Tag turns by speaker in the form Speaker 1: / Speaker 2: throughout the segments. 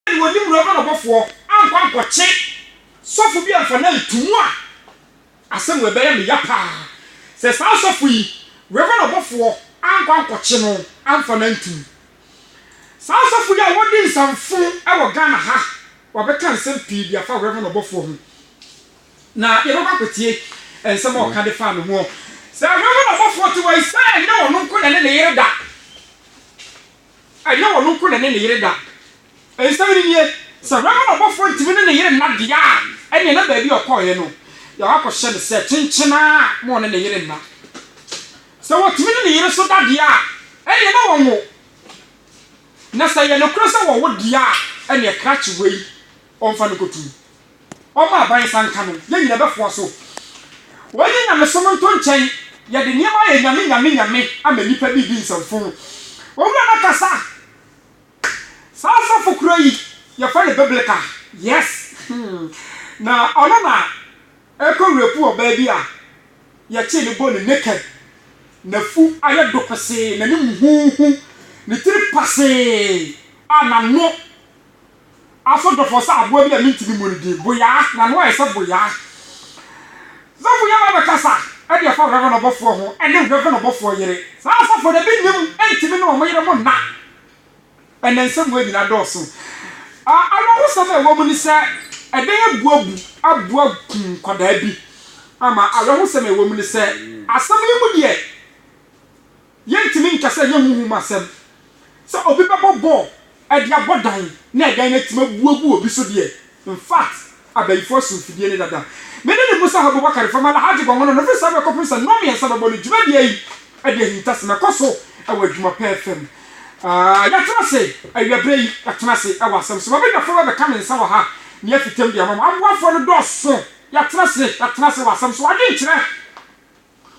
Speaker 1: Sɛdeɛ wɔnni mmara no bɔfoɔ ankɔ ankɔkye sɔfo bi amfa no anto mu a, asɛm wei bɛyɛ me ya paa. Sɛ saa sɔfo yi, Reverend ɔbɔfoɔ, ankɔ ankɔkye no amfa no anto mu. Saa sɔfo yi a wɔdi nsamfo wɔ Ghana ha, wɔabɛka nsɛm pii de afa Reverend ɔbɔfoɔ ho. Na yɛbɛkɔ akɔtie nsɛm a ɔka de faa ne ho. Sɛ Reverend ɔbɔfoɔ te hɔ yi, sɛ ɛnyɛ ɔno nko na ɛne ne yere da Ɛnyɛ ɔno nko na ɛne ne yere da. Nsɛm no nie, Sɛ hwammɔ ɔbɔfoɔ ntumi ne ne yere nna deɛ a, ɛnneɛ na baabi a ɔkɔeɛ no, deɛ wakɔhyɛ no sɛ kyenkyen ara ma ɔne ne yere nna. Sɛ wɔtumi ne ne yere nso da deɛ a, ɛnneɛ na wɔnwo. Na sɛ ɛyɛ nokorɛ sɛ wɔwo deɛ a, ɛnneɛ krakye wei. Ɔmfa no nkotu. Ɔmma aban nsa nka no. Yɛn nyinaa bɛfoa so. Wɔnyi nyamesom nto nkyɛn. Yɛde nneɛma ayɛ nyame nyame nyame ama nnipa bi di nsɛmfo. Owura no akasa. Saa ɔsɔfo koro yi, yɛfrɛ no Biblica. Yes. Na ɔno na ɛkɔ rape ɔbaa bi a yɛkyee no bone naked. N'afu ayɛ do pesee, n'anim huuhu, ne tiri pasee, a n'ano Asodwofoɔ sɛ aboa bi a mentumi mmu ne din, Boyaa, n'ano ayɛ sɛ boyaa. Sɛ Boyaa ba bɛkasa de ɛfa Reverend ɔbɔfoɔ ho ne Reverend ɔbɔfoɔ yere, saa asɔfoɔ no ebi nim ntumi ne wɔn yere mo nna. Ɛnna nsɛmua nyina dɔɔso. Awerɛhosɛm a ɛwɔ mu ne sɛ ɛdɛn abu abu abu akum nkwadaa bi ama awerɛhosɛm a ɛwɔ mu ne sɛ asɛm yi mu deɛ Yɛntumi nka sɛ ɛnyɛ honhom mu asɛm sɛ obi bɛbɔ bɔɔl de abɔ dan na dan no atumi abu agu obi so deɛ. In fact, abayifo aso mfidie no dada. Me ne ne Musa Habubakar fam Alhaji Gɔngɔnɔ no firi saa berɛ kɔpem sɛ nnɔn mmiɛnsa bɛbɔ no dwumadie yi de ahintasem ɛkɔ so wɔ adwuma pɛɛ fam. Aah yɛatena ase awia berɛ yi, yɛatena ase wɔ asɛm so. M'abadwafoɔ bɛbɛka me nsa wɔ ha na yɛafi tam de ama mo. Aboafoɔ no dɔɔso, yɛatena ase, yɛatena ase wɔ asɛm so. Adwenkyerɛ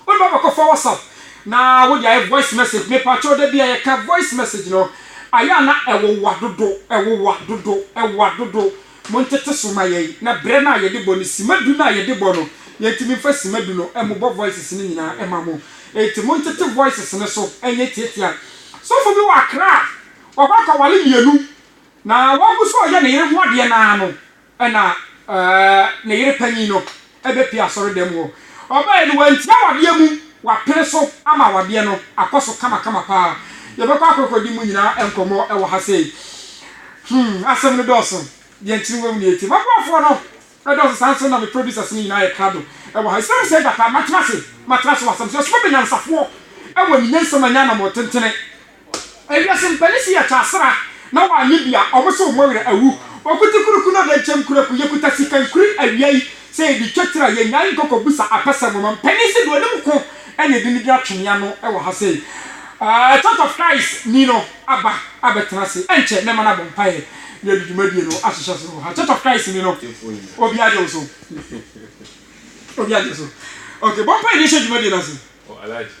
Speaker 1: Wode ba bɛkɔfa WhatsApp na wode ayɛ voice message. Mepakyɛw da bi a yɛka voice message no, ayɛ a na ɛwowa dodo, ɛwowa dodo, ɛwowa dodo. Montete so ma yɛn. Na brɛ no a yɛde bɔ no, sima du no a yɛde bɔ no, yɛntumi mfa sima du no mmobɔ voices no nyinaa mma mo. Enti montete voices no so nyɛ tiatia. Sɔfo bi wɔ Accra, wakɔ akɔware mmienu, na wagu so reyɛ ne yere ho adeɛ no ara no, Ɛnna ne yere panyin no bepue asɔredɛm hɔ. Ɔbae no, wanti awadeɛ mu, wapene so ama awadeɛ no akɔ so kamakama paa. Yɛbɛkɔ akɔkɔdi mu nyinaa nkɔmmɔ wɔ ha sei. Hmm, asɛm no dɔɔso. Deɛ nkyene wɔ mu na ɛtim. M'aboafoɔ no dɔɔso saa nso na me producers no nyinaa yɛ krado wɔ ha. Ɛsɛ mu sɛ gyata, matena ase, matena ase wɔ asɛm so. Yɛsom bɛnyansafoɔ wɔ ne nyansam a ɛnyɛ anammɔn tentene Ewiase mpanin si yɛ kyasra na wa nye bia ɔmo se ɔmo werɛ awu Okuti kuruku na ɔde nkyɛm kura ku Yɛkuta sika nkuri awia yi sɛ yɛde twa tira Yɛnyae nkɔkɔ busa apɛsɛm Ɔma mpanin se deɛ ɔnim ko na yɛde no di atwene ano wɔ ha sei Aah Church of Christ ni no aba abɛtena ase Ɛnkyɛ mɛma no abɔ mpaeɛ na yɛde dwumadie no ahyehyɛ aseɛ wɔ ha Church of Christ ni no Obiara gye wo so Obiara gye wo so Okay bɔ mpaeɛ na yɛnhyɛ dwumadie no ase.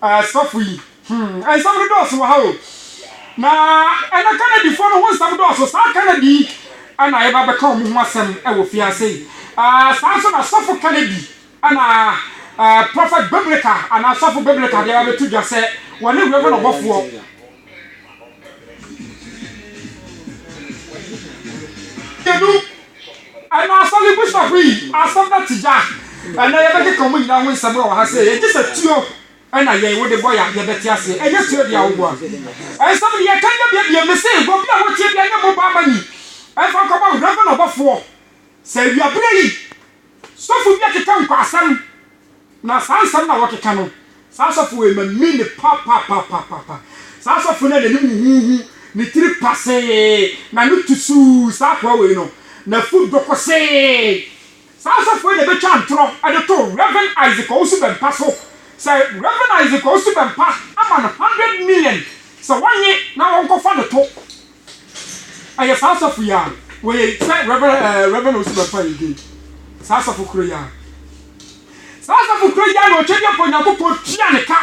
Speaker 1: Ah sɔfo yi hmm nsɛm no dɔɔso wɔ ha o na ɛnɛ Canadifo no ho nsɛm dɔɔso saa Canadi yi na yɛba bɛka wɔn ho asɛm wɔ fiase yi ah saa nso na sɔfo Canadi na ah prophet biblical anaa sɔfo biblical deɛ yɛba bɛto dwa sɛ wɔne Reverend ɔbɔfoɔ Ɛna asɔre bishop yi asɛm na te gya. Ɛnɛ yɛbɛkeka wɔn nyinaa ho nsɛm wɔ ha sei. Ɛgye sɛ tuo ɛna yɛn wode bɔ ya yɛbɛte aseɛ. Ɛnyɛ tuo deɛ a woboa. Ɛnsɛm deɛ yɛka nyɛ bia bia mese obi a wotie bia nyɛ mobile money ɛmfa nkɔma wo reverend ɔbɔfoɔ. Sɛ awia berɛ yi. Sɔfo bi akeka nkwasɛm, na saa nsɛm no a wɔkeka no, saa sɔfo wei mami no papapapaapa. Saa sɔfo no a n'anim huhuuhu, ne tiri pasee, n'ano tu suu, saa akoa wei no, n'afu dɔ kosee. Saa sɔfo wei na ɛbɛtwa ntorɔ de to Rev. Isaac Owusu-Bempah so sɛ Rev. Isaac Owusu-Bempah ama no hundred million sɛ wɔnnye na wɔnkɔfa no to Ɛyɛ saa asafo yi a wɔyɛ yi sɛ Rev. Eh, Rev. Osiman Fai din. Saa asafo koro yi a. Saa asafo koro yi a na Ɔtwɛdeɛ Mpa Onyankopɔn tua ne ka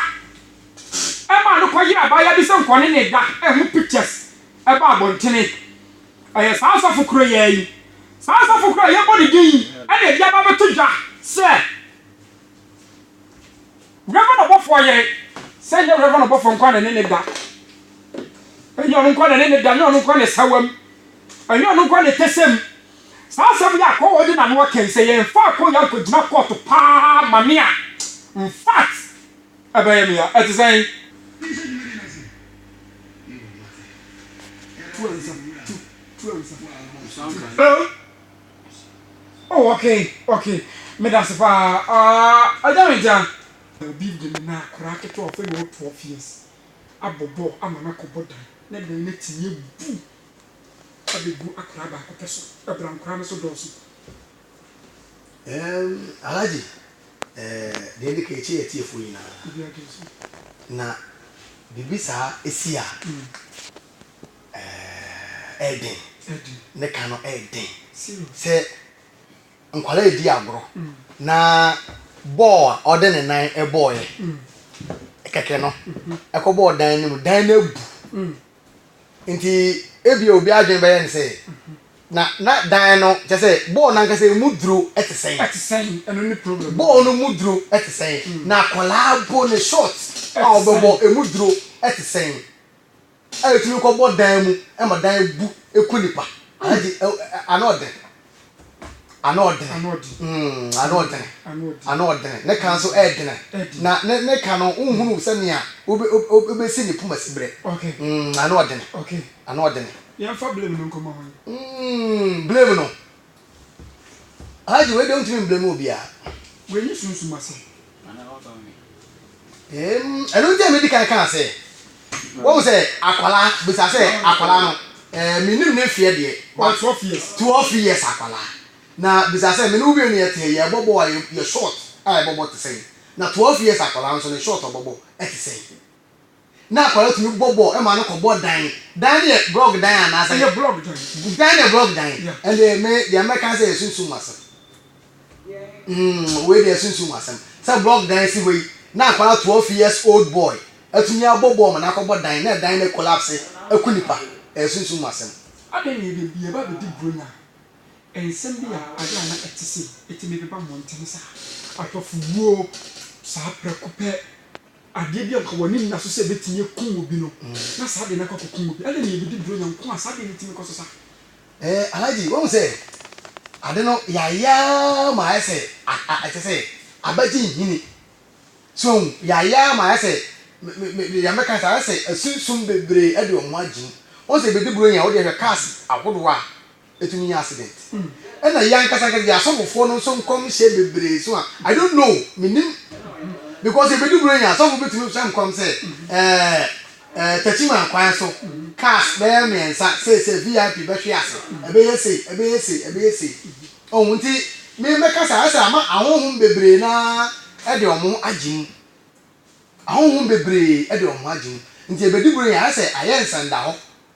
Speaker 1: ɛmaa no kɔyere abaayewa bi sɛ nkɔ ne ne da ɛho pictures ɛba abɔntene. Ɛyɛ saa asafo koro yi a yi. Saa asafo koro a yɛbɔ ne din yi ɛna ɛde aba abɛto dwa sɛ. Reverend ɔbɔfoɔ yere, sɛ nyɛ Reverend ɔbɔfoɔ nkoa na ɛne no da, ɛnyɛ ɔno nkoa na ɛne no da, ɛnyɛ ɔno nkoa na ɛsawa mu, ɛnyɛ ɔno nkoa na ɛtɛsɛ mu. Saa asɛm yi a Akɔwɔ de n'ano aka yi, sɛ yɛmfa Akɔwɔ yi ankɔgyina kɔɔto paa ma me a, infact, ɛbɛyɛ me ya. Ɛte sɛn? Oh okay okay medase paa aah agya menkyɛn. Obi de me na akwadaa ketewa a ɔfɛ na ɔwɔ twelve years abɔ bɔɔl ama no akɔbɔ dan na dan no atumi abu abɛgu akwadaa baako pɛ so, ɛbra nkwadaa no so dɔɔso. Ɛɛm
Speaker 2: Alhaji eh, deɛ ɛdi kan ɛkyɛ yɛ atiefoɔ nyinaa Obiara gye nso. na biribi saa si a. ɛyɛ den, ne ka no yɛ den. Sɛ nkwadaa redi agorɔ na bɔɔl a ɔde ne nan bɔɔeɛ, kɛkɛ no, ɛkɔbɔɔ dan no mu, dan no abu. Nti ebia obi adwene bɛyɛ no sɛ, na na dan no kyɛ sɛ bɔɔl no ankasa emu duro te sɛn. Ɛte sɛn, ɛno ne
Speaker 1: problem. Bɔɔl no mu duro
Speaker 2: te sɛn, na akwadaa bo ne short a ɔbɛbɔ emu duro te sɛn. A etumi kɔbɔ dan mu ma dan bu ku nipa. Alhaji ano ɔdene ano ɔdene ano ɔdene ano ɔdene ne ka nso ɛɛdene na ne ne ka no nhunu sɛnea wobɛsi ne poma si berɛ ano
Speaker 1: ɔdene
Speaker 2: ano ɔdene. Yɛmfa
Speaker 1: blame no nkɔma hwan? Blame
Speaker 2: no Alhaji wei deɛ wontumi mblame obiara. Wei nye sunsum
Speaker 1: asɛm.
Speaker 2: Eem ɛno nti a medi kan kaa sɛ wɔn sɛ akwalaa bisa sɛ akwalaa no ɛɛ menim ne mfeɛ deɛ. Ɔyɛ twelve years. Twelve years akwalaa na bisa sɛ me ne wo mmienu yɛ te yɛ bɔbɔ a yɛ short a yɛbɔbɔ te sɛn na twelve years akwalaa nso ne short ɔbɔbɔ ɛte sɛn. Na akwadaa no tumi bɔ bɔɔl ma no kɔ bɔ dan. Dan no yɛ blɔk dan anaa sɛ. Ɛyɛ blɔk
Speaker 1: dan.
Speaker 2: Dan
Speaker 1: no yɛ blɔk dan. Yeah. Ɛnde me
Speaker 2: deɛ mɛka ne sɛ yɛ sunsum mu asɛm. Umm wei deɛ yɛ sunsum mu asɛm. Sɛ blɔk dan si hɔ yi na akwadaa twelve years old boy atumi abɔ bɔɔl ma no akɔ bɔ dan na dan no akolapse aku nipa. Ɛyɛ sunsum mu asɛm. Adɛn na yɛde
Speaker 1: yɛba abɛdi Buronya a nsɛm bi a ade a na ɛte sei tumi beba mmɔntene saa? Ahwɛfo wuo saa prɛko pɛ. Adeɛ bi a nka w'ani nna so sɛ ɛbɛtumi akum obi no, na saa adeɛ no akɔ akɔkum obi. Adɛn na yɛbɛdi borɔnya nko a saa adeɛ no tumi kɔ so saa? Eh, Alhaji,
Speaker 2: woahu sɛ ade no yɛayɛ ara ma ayɛ sɛ a-a-a te sɛ abagye nhini. So wohu? Yɛayɛ ara ma ayɛ sɛ, me-me-me deɛ mɛka ne sɛ ayɛ sɛ asunsum bebree de wɔn ho agye mu. Wohu sɛ yɛbɛdi borɔnya a, wo deɛ hwɛ cars ahodoɔ a Ɛtumi nyɛ accident. Ɛna yɛn ankasa ankasa yɛn asɔfofoɔ no nso nkɔmhyɛ bebree so a I don't know, mennim because ɛbɛdu berɛ yi a sɔfo bi tumi hyɛ nkɔm sɛ ɛɛ ɛɛ Techiman kwan so cars bɛyɛ mmiɛnsa seesei VIP bɛhwe ase, ɛbɛyɛ sei, ɛbɛyɛ sei, ɛbɛyɛ sei. Ɔhu nti me mɛka sɛ ayɛ sɛ ama ahonhom bebree no ara de wɔn ho agye mu. Ahonhom bebree de wɔn ho agye mu nti ɛbɛdu berɛ yi a ayɛ sɛ ayɛ nsɛndahɔ.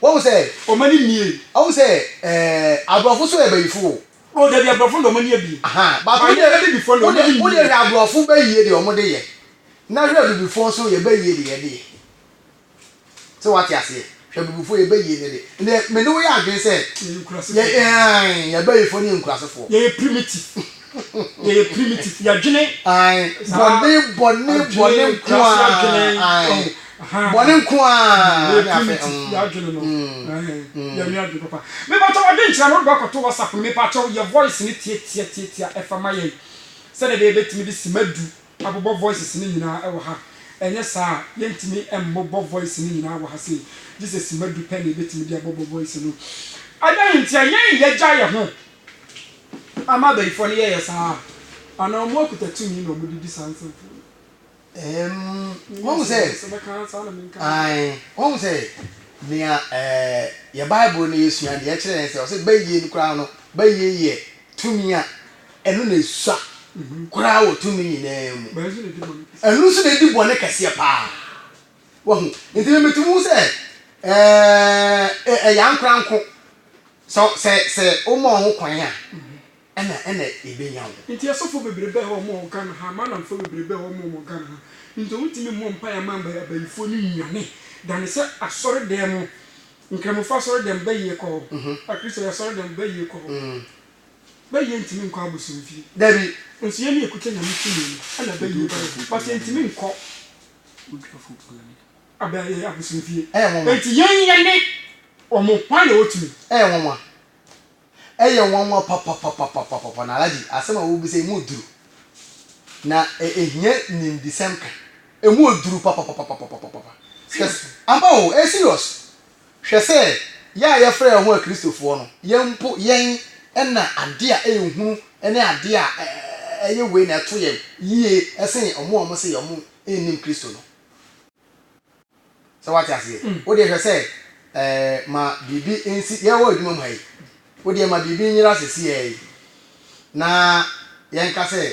Speaker 2: Wahu sɛ ɔma ne nie. Wahu
Speaker 1: sɛ
Speaker 2: eh, aborɔfo so yɛ bayifo o. Oh dabi aborɔfo no deɛ
Speaker 1: ɔmo ani yɛ bi. Ahaa, but wo deɛ,
Speaker 2: wo
Speaker 1: deɛ, wo deɛ hwɛ aborɔfo
Speaker 2: bayie deɛ ɔmo de yɛ, na hwɛ abibifoɔ nso yɛ bayie deɛ yɛde yɛ. Sɛ wate aseɛ? Hwɛ abibifoɔ yɛ bayie no de, ɛndeɛ me ne wo yɛ adwene sɛ, yɛ, yɛ, ahaa, yɛ bayifoɔ ne yɛ nkurasefoɔ. Yɛyɛ primitive.
Speaker 1: yɛyɛ primitive yɛdwene ae bɔne
Speaker 2: bɔne bɔne nko a ae bɔne nko a yɛyɛ primitive
Speaker 1: mm, yɛadwene no mm, mm. yɛnwe adwene papa mepatwa wadwene nkyerɛ no wode bɛkɔto whatsapp no mepatwa yɛ voice no tiatia tiatia ɛfa ma yɛn sɛdeɛ bɛyɛ bɛtumi de sima du abobɔ voices no nyinaa ɛwɔ ha ɛnyɛ saa a yɛntumi mmobɔ voice no nyinaa wɔ ha sei gye sɛ sima du pɛ na yɛbɛtumi de abɔbɔ voice no adan ntia yɛn yɛgya yɛ ho Ama abayifoɔ no yɛyɛ saa a, anaa ɔmo akuta tumi na ɔmo de di saa nsɛmfua
Speaker 2: no? Ɛɛm, wahu sɛ, ae, wahu sɛ, nea ɛɛ, yɛ Bible no yɛsua no deɛ ɛkyerɛ yɛn sɛ, ɔsɛ bayie no koraa no, bayie yɛ tumi a ɛno na ɛsua koraa wɔ tumi nyinaa mu. Ɛno nso na ɛdi bɔne kɛseɛ paa. Wahu? Enti me metumi hu sɛ, ɛɛ, ɛyɛ ankoranko. Sɛ, sɛ, sɛ woma wɔn ho kwan a, ɛna, ɛna ebenya wɔn. Enti asɔfo bebrebe
Speaker 1: a wɔwɔ Ghana ha, Malamfo bebrebe a wɔwɔ wɔ Ghana ha, nti wɔntumi mmɔ mpae mma Abayifo no nnwane, dane sɛ asɔredan mu, Nkramofo asɔredan bɛyɛ kɔ hɔ, Akristo asɔredan bɛyɛ kɔ hɔ. Bɛyɛ ntumi nkɔ abosomfie. Dabi. Nso
Speaker 2: yɛn ne ekuta
Speaker 1: Nyame tumi no, ɛna bɛyɛ bɛyɛ, but yɛntumi nkɔ. Odwafo Paul ani ada yɛn abosome fie. Ɛyɛ nwanwa. Enti yɛn yɛ ne wɔn hwan na otumi. Ɛyɛ nwanwa.
Speaker 2: Ɛyɛ nwanwa papapapapapapa na Alagye asɛm a wobisa emu duru na ehia nimdesɛm ka. Emu duru papapapapapapapa. Seriously. Ampa o ɛyɛ serious. Hwɛ sɛ yɛn a yɛfrɛ yɛn ho Akristofoɔ no, yɛn mpo yɛn na adeɛ a ɛyɛ hunu ne adeɛ a ɛyɛ wei na ɛto yɛn yie sen wɔn a wɔse wɔn nnim Kristo no. Sɛ woate aseɛ? Wo deɛ hwɛ sɛ ma biribi nsi, yɛwɔ adwuma mu ha yi, wo deɛ ma biribi nyera sɛsiɛ yi na yɛnka sɛ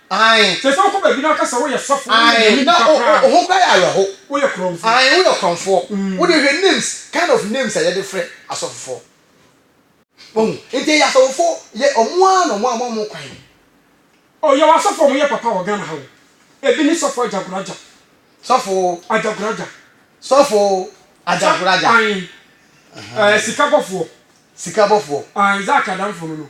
Speaker 2: Ae. Te sɛ wokɔ baabi na
Speaker 1: wɔka sɛ woyɛ sɔfo,
Speaker 2: woyɛ Ae, Nyame na nipa o, o, koraa wo no. ho koraa yɛ awerɛhow.
Speaker 1: Woyɛ korɔmfoɔ. Ae, woyɛ
Speaker 2: ɔkorɔmfoɔ. Wo deɛ hwɛ names, kind of names a yɛde frɛ asɔfofoɔ. Wahu? Nti ɛyɛ asɔfofoɔ, yɛ, wɔn ara na wɔama wɔn kwan. O,
Speaker 1: yɛwɔ asɔfo a wɔyɛ papa wɔ Ghana ha o. Ebi ne Sɔfo Agyagoragya. Sɔfo.
Speaker 2: Agyagoragya. Sɔfo Sɔ, Agyagoragya. ae. Ɛɛ,
Speaker 1: Ɛhɛn. sikabɔfoɔ. Sikabɔfoɔ. Ae, Zack Adamfo no no.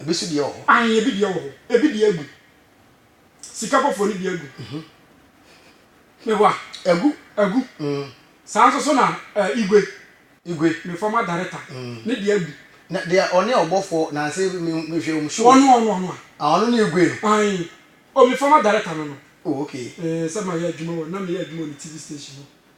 Speaker 1: Ebi so deɛ wɔ hɔ. Ahe ebi deɛ wɔ hɔ. Ebi deɛ agu. Sika foforo no deɛ agu. Meboa? Agu. Agu. Saa nso so na eh, Igwe. Igwe. Me former director. Ne deɛ agu. Na deɛ ɔne
Speaker 2: ɔbɔfoɔ nanse me mehwɛ wɔn show. Ɔno ɔno ɔno a. Ah ɔno
Speaker 1: ne Igwe no.
Speaker 2: Ahe.
Speaker 1: Oh me former director no no. Oh okay. Eh
Speaker 2: sɛ mayɛ adwuma wɔ
Speaker 1: na meyɛ adwuma wɔ ne TV station hɔ.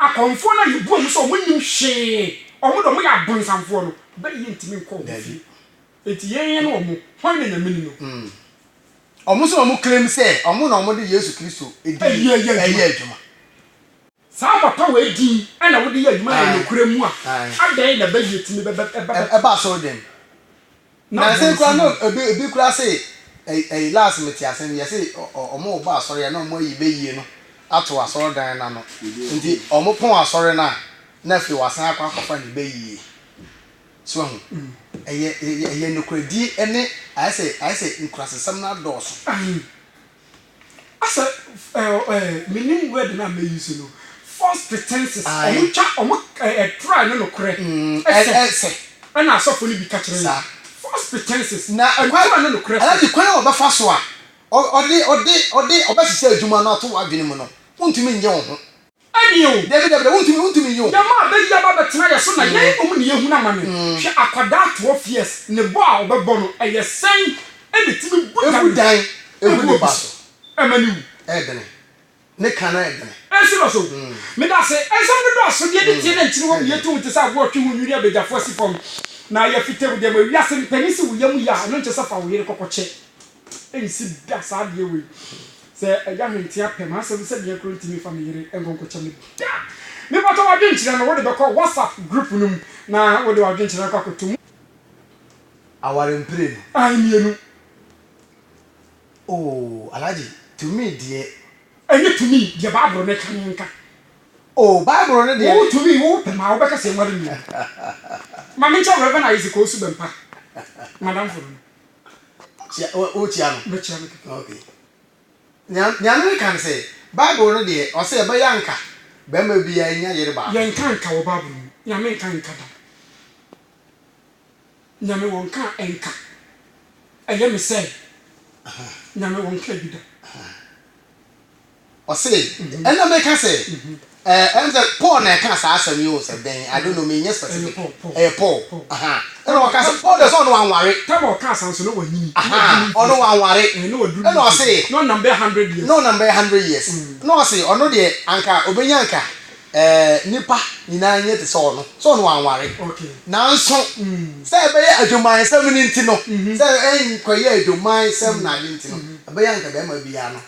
Speaker 1: Akɔmfoɔ no a yɛbua mu sɛ wɔnnim hwee, wɔn deɛ wɔyɛ abonsamfoɔ no, bɛ yɛntumi nkɔ wɔn fie. Enti yɛn ne wɔn, hwan na Nyame ni no? Wɔn nso
Speaker 2: na wɔn claim sɛ wɔn na wɔde Yesu Kristo din reyɛ adwuma. Saa
Speaker 1: papa wei din na wode yɛ adwuma na ɛyɛ nokorɛ mu a, adɛn na bɛ yɛtumi bɛba asɔredwam?
Speaker 2: Nansa koraa na obi obi koraa se ɛy ɛy last mete ase no yɛse ɔ ɔmo rebɔ asɔre a na ɔmo ayi bɛyie no ato asɔredan no ano nti ɔmo pɔn asɔre no a na afei wasan akɔ akɔfa ne bɛyie so wahu ɛyɛ ɛyɛ ɛyɛ nokoradie ne ayɛ sɛ ayɛ sɛ nkurasesɛm no adɔɔso. Asɛ
Speaker 1: eh menim word no a mɛ use no false pretenses ɔmo twa ɔmo eh try
Speaker 2: no
Speaker 1: nokorɛ ɛsɛ ɛna asɔfo no bi ka kyerɛ yɛn false
Speaker 2: pretenses
Speaker 1: na try no
Speaker 2: nokorɛ ɛna
Speaker 1: ne kwan a ɔbɛfa so
Speaker 2: a ɔde ɔde ɔde ɔbɛsesa adwuma no ato w'adwene mu no wontumi nnye wo ho. Ɛne o, dabi
Speaker 1: dabi dabi wontumi wontumi
Speaker 2: nyi o. Yɛn mma bɛ yi aba bɛtena
Speaker 1: yɛ so na yɛn mmom na yɛhunu amane. Hwɛ akwadaa twelve years ne bɔ a ɔbɛbɔ no ɛyɛ sɛn na ɛtumi bu dan Ebu dan
Speaker 2: egu egu obi nipa so so. ɛma no wu.
Speaker 1: Ɛɛdene.
Speaker 2: Ne ka no ɛɛdene. Ɛyɛ serious o.
Speaker 1: Meda ase. Nsɛm no dɔɔso, deɛ ɛdi tie na nkyini wɔ mu yɛ tu ho te sɛ aboa a ɔtwe ho nwiri abɛgyafo asi fam na ayɛ fitamu dɛm. Wiase mpanin se wo yam ye a, ɛno nkyɛ sɛ fa wo yere kɔkɔkyɛ. Ɛnsi da saa adeɛ wei. Sɛ agya hwenteaa pɛ m'asɛm sɛ meɛ koro ntumi mfa me yere nkonkokyɛ me da. Mepatɔ w'adwenkyerɛ no wode bɛkɔ WhatsApp group no mu na wode w'adwenkyerɛ no akɔ akɔto mu.
Speaker 2: Aware mprenu. Ae mmienu. Oh Alhaji, tumi deɛ. Ɛnyɛ tumi
Speaker 1: deɛ Bible no ka no nka. Oh
Speaker 2: Bible no deɛ. Wo tumi wo pɛ maa
Speaker 1: wobɛka sɛ nware mmienu. Ma menkyerɛ Rev. Isaac Owusu Bɛmpa, m'adamfo no no. Kyia,
Speaker 2: wo, wokyia no? Mɛkyia no kɛkɛ. Ok. Nea, nea mereka ne sɛ, Bible no deɛ, ɔse ɛbɛyɛ anka barima biara nya yere baako. Yɛnka anka wɔ Bible no
Speaker 1: mu. Nyame nka anka da. Nyame wɔnka anka. Ɛyɛ me sɛ, Nyame wɔnkaa bi da.
Speaker 2: Ɔse, Ɛna meka sɛ, Ɛɛ, ɛne sɛ Paul na ɛkaa saa asɛm yi o, sɛ dɛn, I don't know, menyɛ specific, ɛyɛ Paul, aha, ɛna ɔkaa sɛ, Paul deɛ sɛ ɔno wanware, aha,
Speaker 1: ɔno wanware,
Speaker 2: ɛna ɔse,
Speaker 1: na ɔnam bɛyɛ hundred years,
Speaker 2: na ɔse, ɔno deɛ, anka ɔbɛnya anka, ɛɛ, nnipa nyinaa nyɛ te sɛ ɔno, sɛ ɔno wanware, nanso, sɛ ɛbɛyɛ adwumayɛsɛm no nti no, sɛ ɛnkɔyɛ adwumayɛsɛm na ade nti no, ɛbɛyɛ anka bɛrima biara no,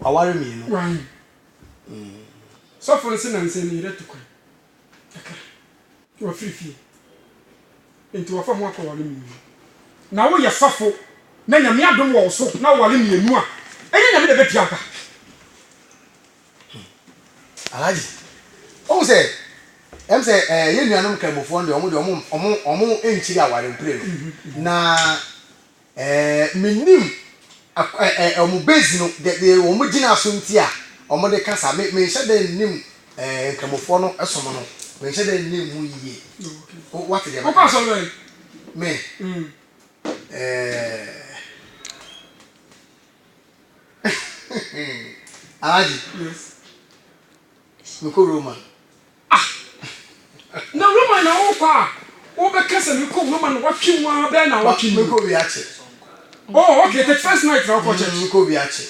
Speaker 2: Waware mmienu. Wae.
Speaker 1: Sɔfo no se nansa ni reto kwan kakra. Wafiri fie. Enti wɔfa ho akɔ ware mmienu. Na wo yɛ sɔfo na Nyame adom wɔ wo so na woware mmienu a, ɛnyɛ Nyame na ɛbɛtua wo ka?
Speaker 2: Alhaji, wohu sɛ ɛm sɛ ɛɛ yɛn nuanom Nkramofoɔ no deɛ wɔn deɛ wɔn wɔn wɔn nkyiri aware mprenu na. Ɛɛ, mennim ak ɛ ɛ wɔn base no, deɛ deɛ wɔn gyina so nti a wɔde ka saa. Me menhyɛ da nnim ɛɛ Nkramofoɔ no som no. Menhyɛ da nnim ho yie. Wo woate deɛ mɛka no? Wokɔ asɔre bɛn?
Speaker 1: Me?
Speaker 2: Ɛɛ, Alhaji. Yes. Mekɔ Roma. Ah!
Speaker 1: Na Roma na worekɔ a wobɛka sɛ mekɔ Roma na woatwe mu ara bɛyɛ nnawɔtwe ni. Mekɔ wia kye.
Speaker 2: Oh,
Speaker 1: okay, thirty first night na wokɔ church. Mekɔ wia kye.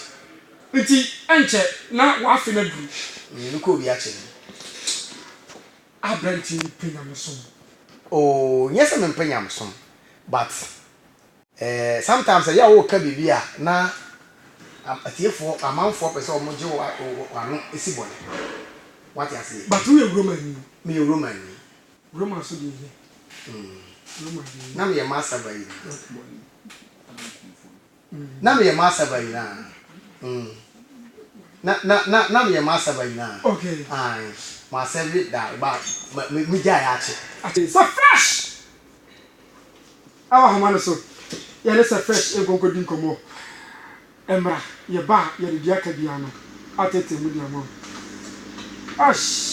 Speaker 2: Nti
Speaker 1: ɛnkyɛ na w'afe no aduru. Mekɔ wia kye
Speaker 2: no.
Speaker 1: Aberanteɛ yi pɛ nyamesom. Oh,
Speaker 2: nyɛ sɛ mempɛ nyamesom, but Eh sometimes sɛ yɛ woka biribi a na atiefoɔ amanfoɔ pɛ sɛ wɔn gye wo ano si bɔne wate aseɛ. But woyɛ Romani. Meyɛ Romani. Roma
Speaker 1: nso deɛ yɛ. Roma deɛ yɛ. Na meyɛ
Speaker 2: Massa ba yi. Na meyɛ Massa ba yi na. Na na na na meyɛ Massa ba yi na. Okay. Aye
Speaker 1: ma
Speaker 2: serve da ba me gyae akye. Akye sɛ fresh.
Speaker 1: Ɛwɔ ahoma no so. Yɛne Sɛ Fresh nkɔ nkɔdi nkɔmmɔ. Ɛmmra, yɛba a, yɛde deɛ aka biara no ateetee mu de ama wo. Ash!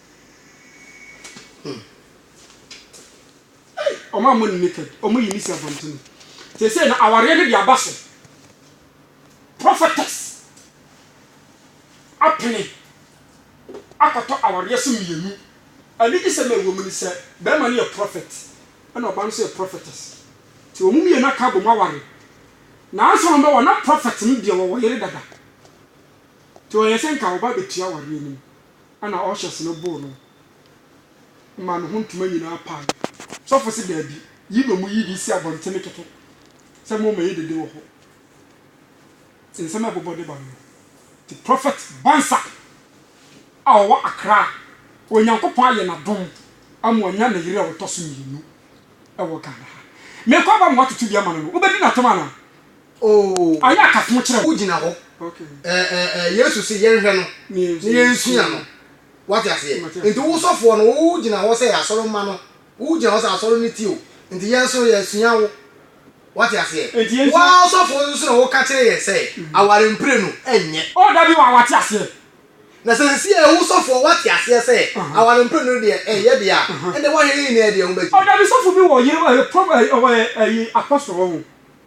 Speaker 1: Wɔn a wɔn nni kɛd, wɔn yi ne si abɔnten. Seesei no, awareɛ no de aba so. Prophetess apene akɔtɔ awareɛ so mmienu. Anigyesɛm a ɛwɔ mu ne sɛ, barima no yɛ prophet, ɛna ɔbaa no nso yɛ prophetess. Nti wɔn mmienu aka abom aware. Nanso wɔn bɛwɔ, na prophet no deɛ ɔwɔ yere dada. Nti ɔyɛ sɛ nka ɔba abɛtua awareɛ no mu. na ɔhyɛ se no boro no ma ne ho ntoma nyinaa pae. Sɔfo se, Daabi, yi na wɔyi de si abɔntene kɛkɛ sɛ mommɛyɛ dede wɔ hɔ. Te nsɛm a ɛbobɔ de ba no no. Te Prophet Bansah a ɔwɔ Accra a Onyankopɔn ayɛ no adom ama wanya ne yere a ɔtɔ so mmienu wɔ Ghana ha. Merekɔ aba ma woatoto bi ama no no, wobɛdi no atɛm anaa? Oh, Ɔyɛ akatoo kyerɛ wo. wogyina hɔ eh eh eh Yesu
Speaker 2: se yɛnhwɛ no na yɛnsua no Woate aseɛ? Nti wo sɔfoɔ no wo gyina hɔ sɛ asɔre mma no Wo gyina hɔ sɛ asɔre no ti o Nti yɛn nso yɛsua wo Woate aseɛ? Wo ara ɔsɔfoɔ no nso na woka kyerɛ yɛn sɛ aware mprenu ɛnyɛ. Oh dabi wa wate aseɛ. Na sɛ sesie wo sɔfoɔ woate aseɛ sɛ aware mprenu no deɛ ɛnyɛ deɛ a ɛnde woahwɛ yɛn nyinaa deɛ ho bɛgye. Oh dabi sɔfo bi wɔ yere eh prof eh eh eh apostle wɔ ho.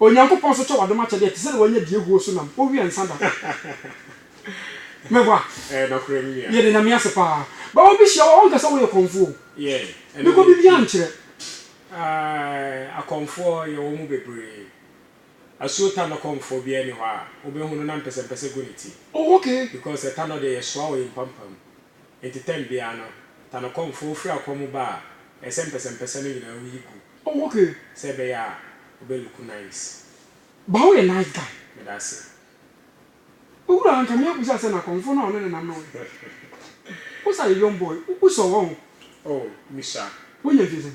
Speaker 3: Onyankopɔn so
Speaker 1: kyɛ w'adom akyɛde a ɛte sɛ nea wanya die huo so nam, owia nsa da. Mɛboa? Ɛyɛ nokorɛ me nua. Yɛda
Speaker 3: Nyame ase paa.
Speaker 1: But obi hyia wo a ɔnka sɛ woyɛ kɔmfoɔ o. Yeah, ɛno na ɛpie.
Speaker 3: Mekɔ biribiara
Speaker 1: nkyerɛ. Aah
Speaker 3: akɔmfoɔ yɛwɔ mu bebree. Asuo Tanɔ kɔmfoɔ biara nni hɔ a wobɛhu no na mpɛsɛmpɛsɛ gu ne ti. Oh okay. Because
Speaker 1: Tanɔ deɛ yɛsoa
Speaker 3: wɔ yɛn mpampam. Enti tɛm biara no, Tanokɔmfoɔ firi akɔ mu ba a, ɛyɛ sɛ mpɛsɛmpɛsɛ no nyinaa wuyi gu. Oh ok. Sɛ
Speaker 1: ɛbɛyɛ a
Speaker 3: ɔbɛ looku nice. Ba wo yɛ
Speaker 1: nice guy. Meda ase. Owura anka me abisa sɛ na kɔmfo no a ɔne ne nam no wɔ he? Wo sa yɛ young boy, wo sɔ wɔ ho. Oh, Misha.
Speaker 3: Wo nya nti sɛn?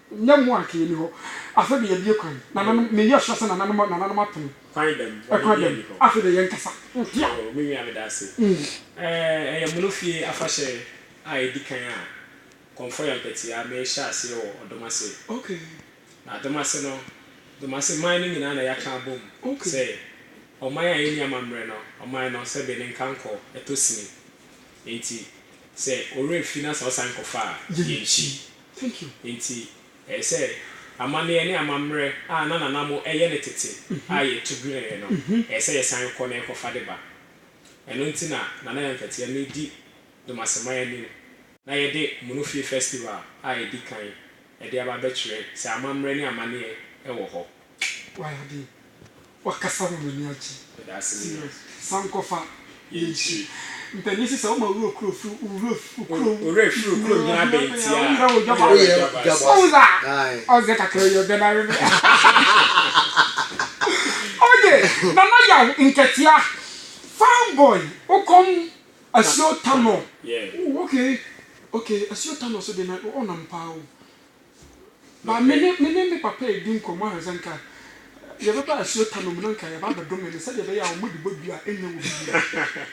Speaker 1: Nyɛ mmoa a nka enni hɔ. Afei de yɛabue kwan. Nananom, me yɔhwɛ sɛ nananom, nananom apene. Kwan bɛn mu? Bɔne Kwan
Speaker 3: biara bɛn mu? nni hɔ. Afei de
Speaker 1: yɛnkasa. Hia. Oh, me nua,
Speaker 3: meda ase. Eh, ɛyɛ mono fie afahyɛ a edi kan a Kɔmfɔ yɛ mpɛtea merehyɛ aseɛ wɔ Ɔdom ase. Okay.
Speaker 1: Na Adom ase
Speaker 3: no, Dom ase man no nyinaa na yɛaka abom Okay. sɛ ɔman a enni amammerɛ no, ɔman no, sɛbe ne nkankɔ, ɛtɔ sini. Enti, sɛ ɔwerɛ fi na sɛ ɔsan kɔfa a, yɛnkyi.
Speaker 1: Enti, ɛyɛ
Speaker 3: sɛ amanneɛ ne amammerɛ a na Nana Mo yɛ no tete a yɛtu dwenee no, ɛyɛ sɛ yɛsan kɔ na yɛkɔfa de ba. Ɛno nti na Nana Yankatia medi Dumaseman anim na yɛde Munufie Festival a edi kan de aba abɛkyerɛ sɛ amammerɛ ne amanneɛ wɔ hɔ. Wayɛ adeɛ
Speaker 1: wakasa ma m'ani agye serious
Speaker 3: sankɔfa
Speaker 1: yɛ nhyira mpanin sisa woma wura okuro firi wura okuro wura firi
Speaker 3: okuro hia bɛnti a wura wɔ dwaba woyɛ dwaba ɔwura
Speaker 1: ɔzɛ kakra yɛ bɛn are me oye nana yaw nkatia fine boy wokɔm asuo tanɔ okay okay asuo tanɔ so de na ɔnam paa o. Na me ne me ne me papa redi nkɔmmɔ a, sɛ anka yɛbɛba asuo tano mu na anka yɛba abɛdome no sɛdeɛ ɛbɛyɛ a wɔde bɔ dua a ɛnyɛ wɔ biribiara.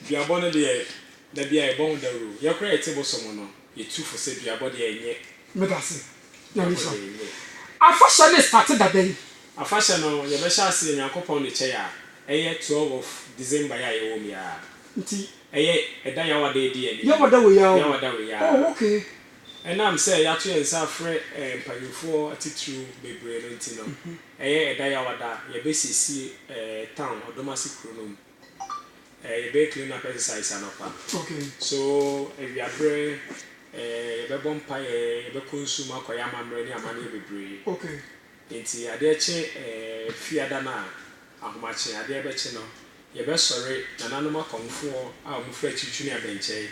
Speaker 3: Duabɔ no deɛ, da biara yɛbɔ ho dawuro. Yɛn koraa a yɛte Bosom no, yɛtu fo sɛ duabɔ deɛ ɛnyɛ. Meda ase.
Speaker 1: Nyame Duabɔ nhyira deɛ wo. ɛnyɛ. Afahyɛ no restate da bɛn? Afahyɛ no,
Speaker 3: yɛbɛhyɛ aseɛ Nyankopɔn de kyɛe a, ɛyɛ twelve of December yi a yɛwɔ mu yi ara. Nti. Ɛyɛ,
Speaker 1: ɛda
Speaker 3: Yawada adi ani. Yawada wɔ Yaw. Yawada
Speaker 1: wɔ Yaa. Oh, okay. Ɛnam sɛ
Speaker 3: yɛato yɛn nsa afrɛ eh, mpanyimfoɔ atitiriw bebree no nti no, ɛyɛ, ɛda Yawada, yɛbɛsiesie eh, town, Ɔdomase kuro no mu. Eh, yɛbɛyɛ clean up exercise anɔpa. Okay. So, awiaberɛ eh, yɛbɛbɔ mpaeɛ, yɛbɛkɔ nsu mu akɔyɛ amammerɛ ne amanneɛ bebree. Okay.
Speaker 1: Enti adeɛ
Speaker 3: kye Fiada no a, ahomakye, adeɛ bɛkye no, yɛbɛsɔre, nananom akɔmfoɔ a wɔfiri akyirikyiri ne abɛnkyɛe,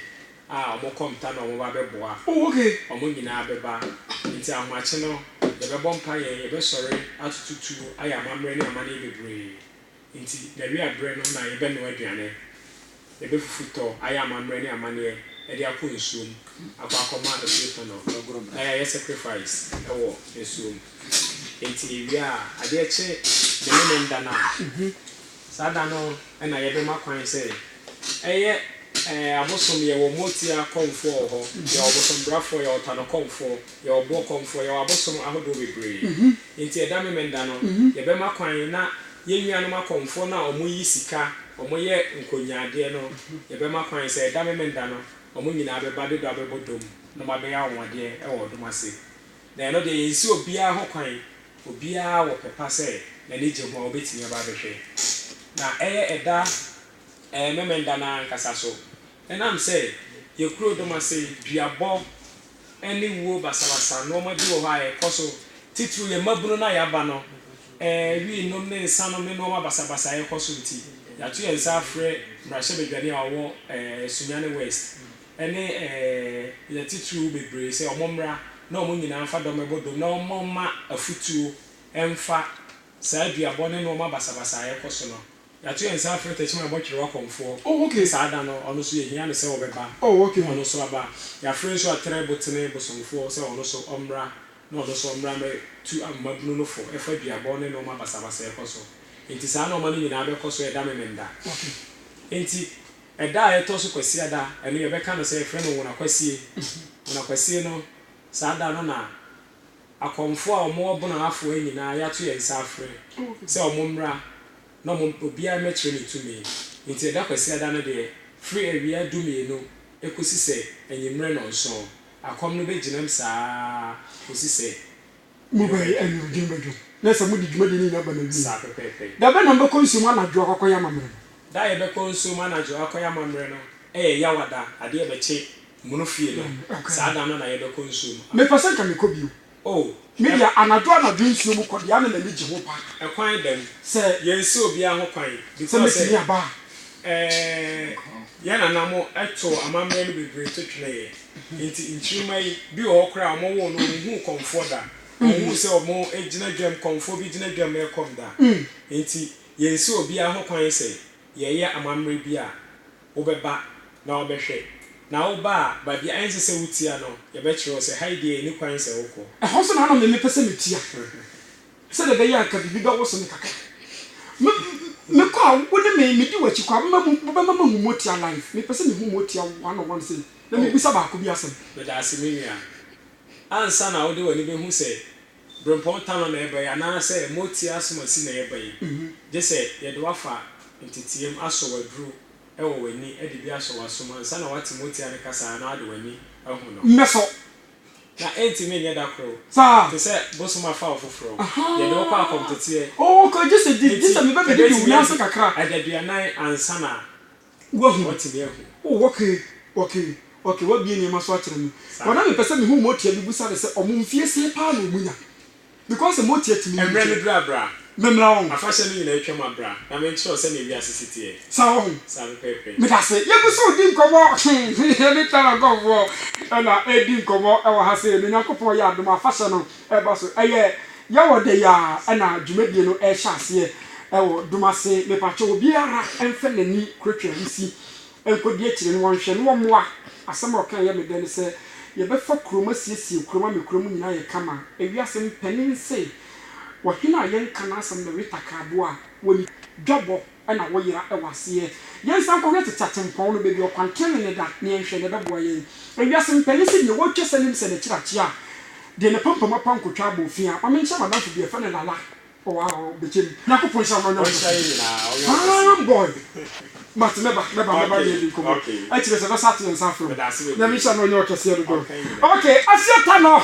Speaker 3: a wɔkɔ mpta na wɔba bɛboa, wɔn
Speaker 1: nyinaa bɛba.
Speaker 3: Enti ahomakye no, yɛbɛbɔ mpaeɛ, yɛbɛsɔre atoto tuo ayɛ amammerɛ ne amanneɛ bebree, Enti, n'awia berɛ no na yɛbɛnoa aduane, yɛbɛfufu tɔ, ayɛ amammerɛ ne amanneɛ de akɔ nsuom akɔ akɔma afie fa no, na yɛayɛ sacrifice wɔ nsuom. Enti yɛwie a, adeɛ kye ne Memen da no a, saa da no na yɛbɛma kwan sɛ ɛyɛ abosom, yɛwɔ Motia kɔmfoɔ wɔ hɔ, yɛwɔ Bosombrafoɔ, yɛwɔ Tanokɔmfoɔ. Yɛwɔ ɔboɔkɔmfoɔ, yɛwɔ abosom ahodoɔ bebree, enti ɛda Memenda no, yɛbɛma kwan na yɛn nuanom akɔmfoɔ no a wɔyi sika, wɔyɛ nkonyaadeɛ no, yɛbɛma kwan sɛ ɛda Memenda no, wɔn nyinaa bɛba de dɔ abɛbɔ dɔm na wɔabɛyɛ anwanwadeɛ wɔ dɔm ase. Na ɛno deɛ, yɛnsi obiara ho kwan, obiara wɔ pɛ pa sɛ n'ani gye ho a, ɔbɛtumi aba abɛhwɛ. Na ɛyɛ ɛda Memenda no ara ankasa so, ɛnam sɛ yɛkuro dɔm ase duabɔ. ne wuo basabasa nnoɔma bi wɔ hɔ a ɛkɔ so titiriw yɛn mmabunu no a yɛaba no wii nom ne nsa nom ne nnoɔma basabasa a ɛkɔ so nti yɛato yɛn nsa afrɛ mmarahyɛbadwani a ɔwɔ Sunyani West ne yɛn titiriw bebree sɛ wɔn mmra na wɔn nyinaa mfa dɔm ɛbɔ dom na wɔn mma wɔn mma afutuo mfa saa duabɔ ne nnoɔma basabasa a ɛkɔ so no Yɛato yɛn nsa afrɛ Tɛkyima Abɔtwere Wakɔmfoɔ. Oh ok. Te saa da no,
Speaker 1: ɔno nso
Speaker 3: yɛhia no sɛ ɔbɛba. Oh ok. Na ɔno nso aba. Yɛafrɛ nso Atere Botene Bosomfoɔ sɛ ɔno nso ɔmmra, na ɔno nso ɔmmra mmɛtu amamabunu no fo ɛfa duabɔ ne nnoɔma basabasa a ɛkɔ so. Enti saa nnoɔma no nyinaa bɛkɔ so ɛda Memenda. Ok.
Speaker 1: Enti,
Speaker 3: ɛda a ɛtɔ so Kwasiada, ɛno yɛbɛka no sɛ yɛfrɛ no Nwonakwasie. Nwonakwasie no, saa da no na. akɔmfoɔ a wɔwɔ Ɔbono afoa nyinaa yɛato yɛn nsa afrɛ sɛ wɔmmra na wɔn obiara mmɛkyerɛ ne tumi. Enti ɛda Kwasiada no deɛ, firi awia dumienu kɔsi sɛ anwummerɛ nnɔnson, akɔm no bɛgyinam saa ara kɔsi sɛ dwom bɛdwo.
Speaker 1: Dwom bɛdwo. Na sɛ mode dwumadie no nyinaa ba no awieeɛ. Saa pɛpɛɛpɛ. Da bɛn
Speaker 3: na mobɛkɔ nsuom
Speaker 1: anadwo akɔkɔyɛ amammerɛ no? Da a yɛbɛkɔ
Speaker 3: nsuom anadwo akɔyɛ amammerɛ no yɛ Yawada, adeɛ bɛkye Mono fie no, saa da no na yɛbɛkɔ nsuo mu a. Mepɛ sɛ nka mekɔ
Speaker 1: bio. Oh. Me deɛ
Speaker 3: anadwo
Speaker 1: anadwo nsuo mu kɔ deɛ na m'ani gye ho paa. Ɛkwan bɛn?
Speaker 3: Sɛ. Yɛnsi
Speaker 1: obiara ho
Speaker 3: kwan. Sɛ mɛtumi aba a.
Speaker 1: Ɛɛɛ, yɛn
Speaker 3: nana mo too amammerɛ no bebree to tweneeɛ. Enti nkyirimma yi, bi wɔ hɔ koraa a wɔwoo no ɔnhuu kɔmfoɔ da. Ɔnhuu sɛ wɔgyina dwam, kɔmfoɔ bi gyina dwam rekɔm da. Enti yɛnsi obiara ho kwan sɛ yɛreyɛ amammerɛ bi a, wobɛba na wabɛhwɛ, na woba a, baabi a ɛnsɛ sɛ wutia no, yɛbɛkyerɛ wo sɛ ha yi deɛ enni kwan sɛ wokɔ. Ɛhɔ nso na na mempɛ
Speaker 1: sɛ metia, sɛdeɛ ɛbɛyɛ a anka biribi bɛwoso me kakra. Me, mekɔ a, wo ne me, medi w'akyi kɔ a, wobɛma mu, wobɛma mahu Motia live. Mepɛ sɛ mehu Motia one on one sei, na Oh, mebisa baako bi asɛm. meda ase me nua.
Speaker 3: Ansa na wode w'ani bɛhu sɛ Berempɔn Tanɔ na yɛba yi anaasɛ Moti Asomasi na yɛba yi, gye sɛ yɛde wo afa nteteam, asɔ w'aduro wɔ w'ani, de bi asɔ w'asom ansa na woate Motia no kasa anaa wode w'ani ahu no. Mmɛsɔ.
Speaker 1: Na
Speaker 3: ɛntumi nyɛ da koro. Saa. Te sɛ
Speaker 1: bosom afa
Speaker 3: wo foforɔ. Ahaa. Yɛde wo kɔ akɔmteteɛ. Ooko, gye sɛ di,
Speaker 1: gye sɛ mebɛbɛdidi wo nan ase kakra. Enti ɛbɛtumi adi adaduanan
Speaker 3: ansa na. Woahu me?
Speaker 1: Oh, okay, okay, okay, woabue nneɛma so akyerɛ me. But na mepɛ sɛ mehu motia. Mibisa no sɛ, Ɔmo mfie sɛn paa na ɔmo nya? Because sɛ motia tumi yɛ. Mmerɛ no duru a, bra.
Speaker 3: Memmra wɔn. Afahyɛ
Speaker 1: no nyinaa atwam
Speaker 3: a, bra na menkyerɛ wo sɛnea wiase si teɛ. Saa wɔ ho? Saa
Speaker 1: pɛpɛɛpɛ.
Speaker 3: Medase. Yegu so
Speaker 1: redi nkɔmmɔ. Yɛne China nkorɔfoɔ na ɛredi nkɔmmɔ wɔ ha sei. Na Nyankopɔn yɛ adom a, afahyɛ no ɛreba so. Ɛyɛ. Yɛwɔ dɛ yi ara na dwumadie no rehyɛ aseɛ wɔ Dumase. Mepakyɛw obiara mfa n'ani kura Twam si nkɔdi akyire no wɔnhwɛ na wɔmmoa. Asɛm a ɔka a ɛyɛ me dɛ ne sɛ yɛbɛfa kurom asiesie kurom ama kurom nyinaa ayɛ kama. Ewiase mpanin se, Ɔhene a yɛnka n'asɛm na weta kraaboa a, wɔnni dwabɔ. na woyera wɔ aseɛ. Yɛnsan nkɔhwɛ tete atempɔn no, baabi a ɔkwan tenenee no da, na yɛnhwɛ deɛ ɛbɛboa yɛn. Ewiase mpanin sɛ deɛ wɔretwa sɛ Limsɛ no akyirakyia a, deɛ n'apampam apa nkotwa abɔ fi a. Ma menkyerɛ m'adamfo bi, yɛfrɛ no Lala. Oh, ah, oh, bɛkyɛ mu. Nyankopɔn nhyira wo na ɔnyɛ wo kɛse. Fine boy. Mate, mɛba, mɛba, mɛba ne yɛdi nkɔmmɔ. Akyire sɛ bɛsa ato yɛn nsa afrɛ wo. Nyame nhyira na ɔnyɛ wo kɛseɛ dodo. Okay, Asia Tanor.